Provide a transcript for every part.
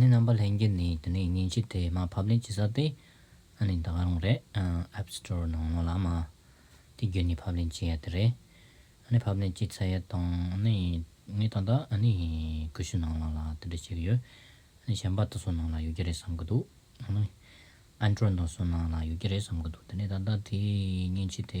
ནི་རྣམ་པ་ལྷན་རྒྱས་ནི་དེ་ནས་མཉེན་ཆས་དེ་མ་ཕབ་ནས་ཇི་ས་དེ་ནི་ད་ག་རུང་རེད App Store ནང་ངོ་ལ་མ་དེ་བརྒྱུད་ནས་ཕབ་ལེན་བྱེད་ཡ་དེ་རེད་ནི་ཕབ་ལེན་བྱས་ཚར་ཡ་དང་ནི་ངས་ད་ལྟ་ནི་ཀུ་ཤུ་ནང་ལ་ལ་དེ་འདྲ་བྱེད་གི་ཡོད་ནི་གཞན་པ་དེ་སོ་ནང་ལ་ཡོད་ཀྱི་རེད་བསམ་གི་འདུག་ནི Android ནང་སོ་ནང་ལ་ཡོད་ཀྱི་རེད་བསམ་གི་འདུག་དེ་ནི་ད་ལྟ་དེ་མཉེན་ཆས་དེ།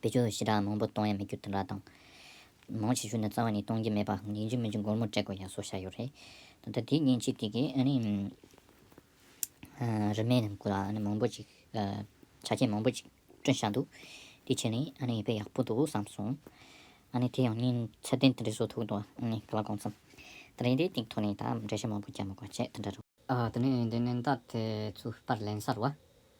བེད་སྤྱོད་ཞེ་དྲགས་མང་པོ་གཏོང་ཡ་མི་རྒྱུ་དེ་འདྲ་དང། མང་ཆེ་ཤོས་ནི་རྩ་བ་ནས་གཏོང་གི་མེད་པ་ཡིན་གཅིག་མིན་གཅིག་སྒོར་མོ་སྤྲད་དགོས་ཡ་སོགས་བྱ་ཡོད་རེད། ད་ལྟ་དེའི་ཉིན་གཅིག་དེ་གའི་ཨ་རིའི་རིན་མེད་ནང་ཁུལ་ལ་མང་པོ་ཅིག་ཆ་རྐྱེན་མང་པོ་ཅིག་བསྐྲུན་བཞག་འདུག་དེའི་ཕྱིར་ནི་ཨ་ནི་དཔེ་ཡག་པོ་འདུག་བསམ་སོང། ཨ་ནི་དེ་ཡང་ཉིན་ཚད་ལྡན་དེ་འདྲའི་བཟོ་ཐུབ་འདུག་ཨ་ནི་ག་ལ་གང་འཚམས། ད་རིང་དེའི་སྟེང་ཐོག་ནས་ད་འགྲེལ་བཤད་མང་པོ་རྒྱག་མི་དགོས་བྱས་དེ་འདྲ་རེད། ད་ནི་འདི་ནན་ཏག་དེ་ཚོའི་པར་ལེན་གསར་བ།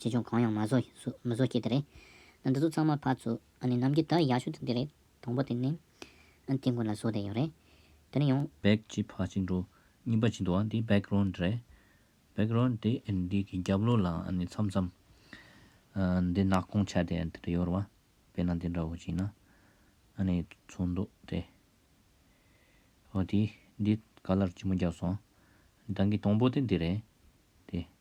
ཆེ་ཆུང་གང་ཡང་མ་བཟོ་ཤེས་དེ་རེད། འདི་ཚོ་ཚང་མ་ཕར་ཚུར་ནམ་མཁའི་དར་ཡག་ཤོས་དེ་རེད། དང་པོ་དེ་ནི། དེ་ཀུན་ལ་བཟོ་བསྡད་ཡོད་རེད། དེ་ནས་ཡང། བེག་ཅེས་ཕར་ཕྱིན་འགྲོ་གཉིས་པ་བྱེད་འདུག་ཨ་འདི Background རེད། Background དེ་འདི་གི་རྒྱབ་ལོགས་ལ་མཚམས་མཚམས། འདི་ནག་གོང་ཆ་དེ་འདི་འདྲ་ཡོད་རེད་བ། དཔེར་ན་འདི་འདྲ་བོ་བྱས་ན། ཨ་ནི་ཚུར་འདུག་དེ། ཨོ་དེ་འདི Color ལྕི་མོ་བརྒྱབ་སོང། དང་གི་དང་པོ་དེ་འདི་རེད། དེ།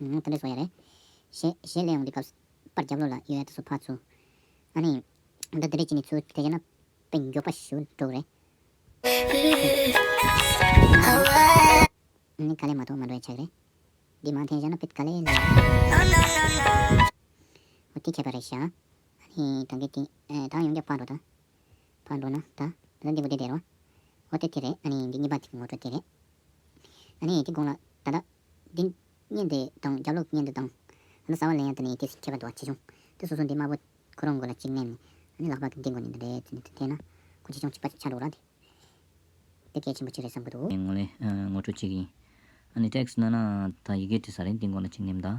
ང་ལྟ་འདྲེ་བཟོ་ཡ་རེད། ཞེས་གཞས་གླེང་འོང་གི་སྐབས། པར་རྒྱབ་ལོགས་ལ་ཡོད་ཡ་ད་སོ་ཕག་ཚུ། ཨ་ནི། འདི་འདི་རེད་ཅེས་ནི་ཚུར་དེ་བྱས་ན། པའི་མགྱོགས་པ་ཞུ་འགྲོ་གི་རེད། ཨ་ནི་དཀའ་ལས་མ་ཐོག་མ་འགྲོ་ཡ་ཆགས་གི་རེད། འདི་མང་ཐེངས་བཞག་ན་པའི་དཀའ་ལས་ལས། འོ་དེ་ཁྱད་པར་རེད་བཞག། ཨ་ནི་ད་གི་དེ། ད་ཡོང་རྒྱབ་བཀག་འགྲོ་ད། བར་འགྲོ་ན་ད་ལོ་འདི་དགོས་དེ་བདེ་རོ། ཨོ་དེ་དེ་རེད་ཨ་ནི་འདི་གཉིས་པ་དེ་ངོ་སྤྲོད་དེ་རེད། ཨ་ནི་དེ་དགོངས་ལ་ད་ལྟ། འདི་བརྙན་དེ་དང་རྒྱབ་ལོག་བརྙན་དེ་དང། ཨ་ན་ཟ་བ་ལེན་ཡ་ད་ནི་དེ་མཁས་པ་འདུག་བ་ཆེ་ཆུང་དེ་སོ་སོ་འདི་དམར་པོ་ཁོ་རང་དགོས་ལ་གཅིག་བསྣན་ནས་ཨ་ནི་ལག་པ་གི་འདི་དགོས་ནི་འདི་རེད་ཟེར་ནས་ཐལ་ན། ཁོ་ཆེ་ཆུང་གཅིག་པ་ཆགས་འགྲོ་ར་དེ། དེ་གལ་ཆེན་པོ་གཅིག་རེད་བསམ་གི་འདུག། ངོ་ལེན་ངོ་སྤྲོད་གཅིག་ཡིན། ཨ་ནི text བསྣན་ན་ད་ཡི་གེ་དེ་ཟ་རེད་འདི་དགོངས་ལ་གཅིག་བསྣན་དང།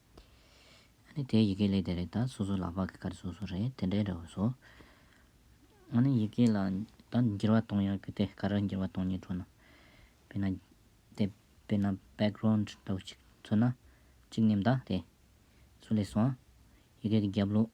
ཨཱ་ནི། དེའི་ཡི་གེ་ལས་དེ་རེད་ད་སོ་སོའི་ལག་པ་གི་ཀ་རེ་སོ་སོ་རེད་དེ་འདྲའི་འདྲ་བ་སོ། ཨཱ་ནི་ཡི་གེ་ལ་ད་འགྱུར་བ་གཏོང་ཡག་གི་དེ་ག་རེ་འགྱུར་བ་གཏོང་ཉེ་འགྲོ་ན། དཔེར་ན། དེ་དཔེར་ན background འདྲ་བོ་གཅིག་མཚོན་ན། གཅིག་ནི་མདའ་དེ། སུ་ལས་སོང། ཡི་གེ་གི་རྒྱབ་ལོགས།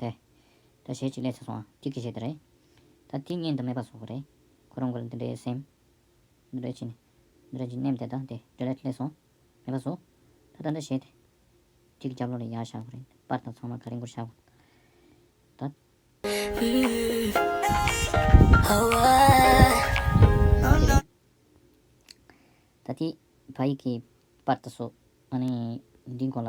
དེ། ད་ཞལ་གཅིག་ལས་ཚེ་སོང་བ་གཅིག་གིས་བྱས་དེ་རེད། ད་དེ་གཉེན་དུ་མེད་པ་སོགས་རེད། ཁོ་རང་གོ་ལ་འདི་འདྲའི་སེམས། འདི་འདྲའི་ཆེ། འདི་འདྲ་གྱི་སྙེམས་དེ་དང་དེ་འདྲ་ལས་ལྷད་སོང། མེད་པ་སོགས། ད་ད་འདྲ་བྱས་དེ། གཅིག་གི་རྒྱབ་ལོགས་ལས་ཡར་བཞག་གོ་རེད། པར་དང་ཚང་མ་ག་རེ་འགོར་བཞག་གོ། ད། དེ་རེད། ད་དེ། བ་ཡིག་གི། པར་དང་སོགས། ཨ་ནི། འདིའི་མགོ་ལ།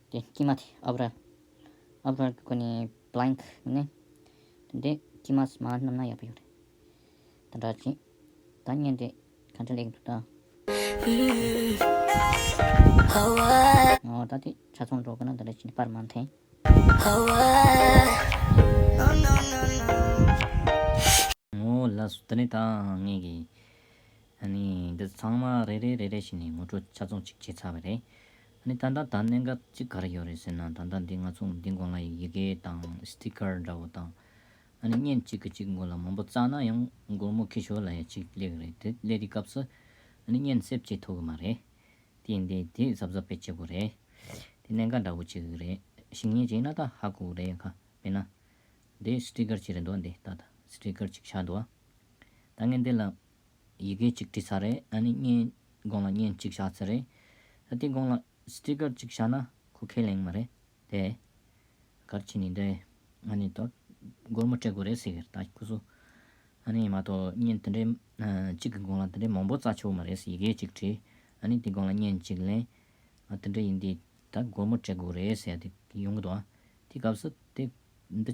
དེ་དཀྱིལ་མ་དེ་ཨབ་ར། ཨབ་ར་གི་གོ་ནི blank ཡིན་ནས། དེ་འདྲའི་དཀྱིལ་མ་སྨྲ་བ་རྣམས་ན་ཡག་པོ་ཡོད་རེད། དེ་འདྲ་བྱེད། ད་བརྙན་དེ་གང་འདྲ་ལེགས་འདུག་ད། ངའོ་ད་དེ་ཆ་ཚང་འགྲོ་དགོས་ན་ད་རེ་བྱས་ནས་པར་མ་འཐེན། ངོ་ལ་སུ་ད་ནི་ད་ངེད་ཀྱིས། ཨ་ནི་འདི་ཚང་མ་རེ་རེ་རེ་རེ་བྱས་ནས་ངོ་སྤྲོད་ཆ་ཚང་ཅིག་བྱས་ཚར་བ་རེད། ནི་ད་ལྟ་ད་གནས་འགའ་གཅིག་ག་རེ་ཡོད་རེད་ཟེར་ན་ད་ལྟ་འདི་ང་ཚོ་འདི་འགོ་ང་ཡི་ཡི་གེ་དང Sticker འདྲ་བོ་དང། ཨ་ནི་བརྙན་གཅིག་གི་གཅིག་མགོ་ལ་མང་པོ་བཙགས་ན་ཡང་སྒོར་མོ་ཁི་ཞོ་ལ་ཡ་གཅིག་སླེ་གི་རེད་དེ་སླེ་དེའི་སྐབས་སུ་ཨ་ནི་བརྙན་གསེབ་ཅིག་ཐོག་གི་མ་རེད། དེ་འདི་དེ་གཟབ་གཟབ་པའི་བྱེད་པོ་རེད། དེ་གནས་འགའ་འདྲ་བོ་གཅིག་གི་རེད་ཞིང་བརྙན་གཅིག་ན་ད་ཧ་གོ་རེད་ཡ་ཁ་མེད་ན། འདི Sticker གཅིག་རེད་འདུག་འདི་ད་ད Sticker གཅིག་ཆགས་འདུག་ཨ། ད་ངས་འདི་ལ་ཡི་གེ་གཅིག་བྲིས་ཚར་རེད་ཨ་ནི་བརྙན་དགོང་ལ་བརྙན་གཅིག་བཞག་ཚར་རེད་ད་དེ་དགོང་ལ Sticker གཅིག་བཞག་ན་ཁོ་ཁས་ལེན་མ་རེད་དེ། གར་ཁྱི་ནི་འདི་ཨ་ནི་དོར་སྒོར་མོ་སྤྲད་དགོས་རེད་ཟེར་ད་ཁོ་ཚོ་ཨ་ནི་མ་གཏོགས་བརྙན་དེ་འདྲའི་གཅིག་གི་དགོང་ལ་དེ་འདྲའི་མང་པོ་བཙའ་ཆོག་མ་རེད་ཡི་གེ་གཅིག་བྲིས་ཨ་ནི་དེ་དགོང་ལ་བརྙན་གཅིག་ལེན་ཨ་དེ་འདྲ་ཡིན་དུས་ད་སྒོར་མོ་སྤྲད་དགོས་རེད་ཟེར་དེ་ཡོང་གི་འདུག་ཨ་དེ་སྐབས་སུ་དེ་འདི།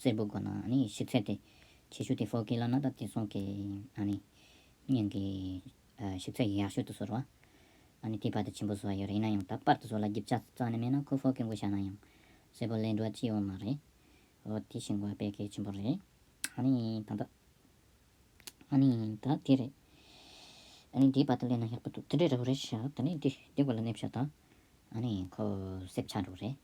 སེར་པོ་དགོན་ན་ནི་ཤི་ཚད་དེ། ཆེ་ཤོས་དེ་ཧྥོ་ཀི་ལ་ན་ད་ཏི་སོགས་ཀྱི་གཉེན་གྱི་ཤི་ཚད་ཡག་ཤོས་དུ་ཟོར་བ། དེའི་བར་དུ་ཆེན་པོ་བཟོ་བ་ཡོད་རེད་ཡིན་ན་ཡང་ད་དཔར་དུ་ཟོར་ལ་བརྒྱུད་བྱ་རྩ་ནས་མེད་ན་ཁོ་ཧྥོ་ཀི་མགོ་ཞགས་ན་ཡང་སེར་པོ་ལས་འགྲོ་བ་ཅི་ཡོད་མ་རེད། འོ་དེ་ཤི་འགོ་བ་དཔེ་གལ་ཆེན་པོ་རེད། ཨ་ནི་ད་ད། ཨ་ནི་ད་དེ་རེད། ཨ་ནི་དེའི་བར་དུ་སླེབས་ན་ཡག་པོ་འདུག་དེ་འདྲའི་རེ་བ་རེ་བཞག་ད་ནི་དེ་འདི་སྐོར་ལ་སྣེ་ཕྱོགས་ད། ཨ་ནི་ཁོ་སེབས་ཆགས་འགྲོ་གི་རེད།